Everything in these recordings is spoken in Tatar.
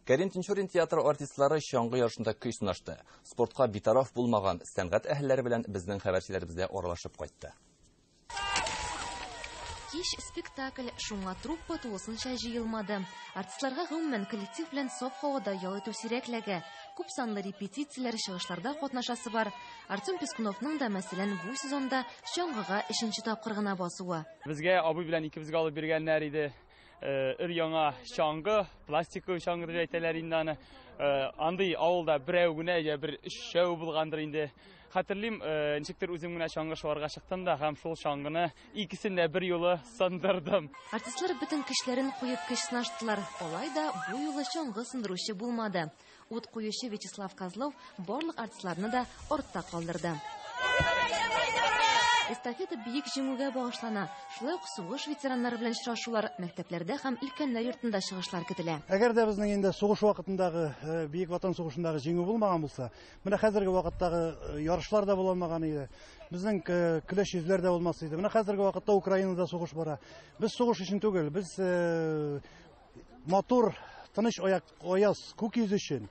Кәрим Тинчурин театры артистлары чаңгы ярышында көй сынашты. Спортка битараф булмаган сәнгать әһелләре белән безнең хәбәрчеләребез дә аралашып кайтты. Кич спектакль шуңа труппа тулысынча җыелмады. Артистларга гомумән коллектив белән саф һавада ял итү сирәкләгә. Күп санлы репетицияләр, чыгышларда катнашасы бар. Артем Пескуновның да, мәсәлән, бу сезонда чаңгыга өченче тапкыр гына басуы. Безгә абый белән икебезгә алып биргәннәр иде. өр-яңа чаңгы, пластиковый чаңгы дип әйтәләр инде аны. Андый авылда берәү генә я бер өчәү булгандыр инде. Хәтерлим, ничектер үзем генә чаңгы шуарга чыктым да һәм шул чаңгыны икесен дә бер юлы сындырдым. Артистлар бөтен көчләрен куеп көч сынаштылар. Алай да бу юлы чаңгы сындыручы булмады. Ут куючы Вячеслав Козлов барлык артистларны да артта калдырды. Эстафета биек җиңүгә багышлана. Шулай ук сугыш ветераннары белән очрашулар, мәктәпләрдә һәм өлкәннәр йортында чыгышлар көтелә. Әгәр дә безнең инде сугыш вакытындагы э, Бөек Ватан сугышындагы җиңү булмаган булса, менә хәзерге вакыттагы э, ярышлар да булмаган иде. Безнең э, көләч йөзләр дә булмас иде. Менә хәзерге вакытта Украинада сугыш бара. Без сугыш өчен түгел, без Матур, тыныч аяк, аяз күк йөз өчен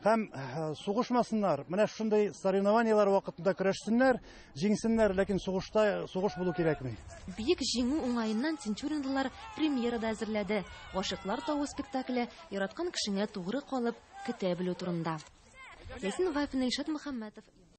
һәм э, сугышмасыннар. Менә шундый соревнованиелар вакытында көрәшсеннәр, җиңсеннәр, ләкин сугышта сугыш булу кирәкми. Бик җиңү уңаеннан тинчуринлылар премьера да әзерләде. Гашыклар тавы спектакле яраткан кешеңә тугры калып, көтә белү турында. Ясин Вафин, Илшат Мөхәммәтов.